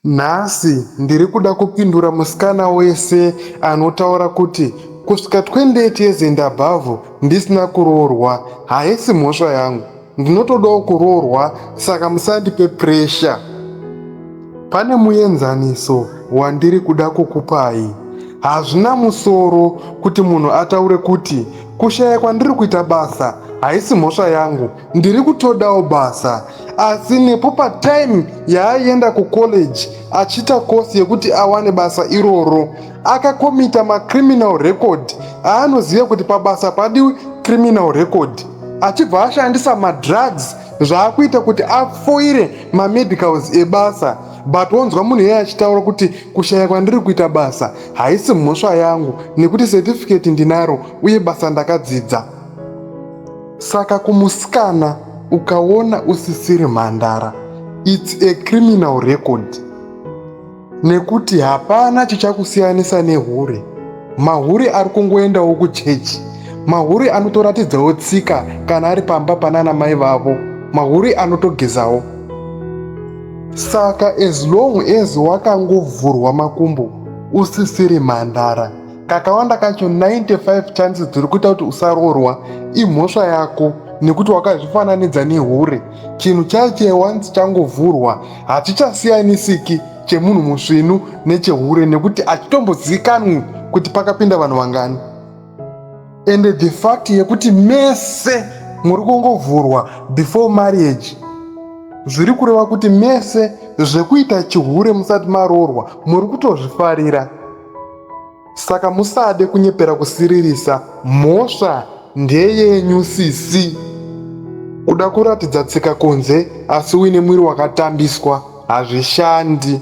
Nhasi ndiri kuda kupindura musikana wese anotaura kuti kusvika 28 years and above ndisina kuroorwa haisi mhosva yangu. Ndinotodawo kuroorwa saka musandipe pressure. Pane muenzaniso wandiri kuda kukupai. Hazvina musoro kuti munhu ataure kuti kushaya kwandiri kuita basa haisi mhosva yangu ndiri kutodawo basa asi nepo patime yaaienda kucollege achiita kosi yekuti awane basa iroro akakomita macriminal record aanoziva kuti pabasa padiwi criminal record achibva ashandisa madrugs zvaakuita kuti afoire mamedicals ebasa but wonzwa munhu iyeye achitaura kuti kushaya kwandiri kuita basa haisi mhosva yangu nekuti certificate ndinaro uye basa ndakadzidza Saka kumusikana ukaona usisiri mhandara it's a criminal record nekuti hapana chichakusiyanisa nehure mahure ari kungoendawo kuchechi mahure anotoratidzawo tsika kana ari pamba panana mai vavo mahure anotogezawo saka as long as wakangovhurwa makumbo usisiri mhandara kakawanda kacho 95 chances dziri kuita kuti usaroorwa imhosva yako nekuti wakazvifananidza nehure chinhu chaiche once changovhurwa hachichasiyanisiki chemunhu musvinu nechehure nekuti hachitombozivikanwi kuti pakapinda vanhu vangani ende the fact yekuti mese muri kungovhurwa before marriage zviri kureva kuti mese zvekuita chihure musati maroorwa muri kutozvifarira Saka musade kunyepera kusiririsa mhosva ndeyenyu sisi. Kuda kuratidza tsika kunze asi uine mwiri wakatambiswa hazvishandi.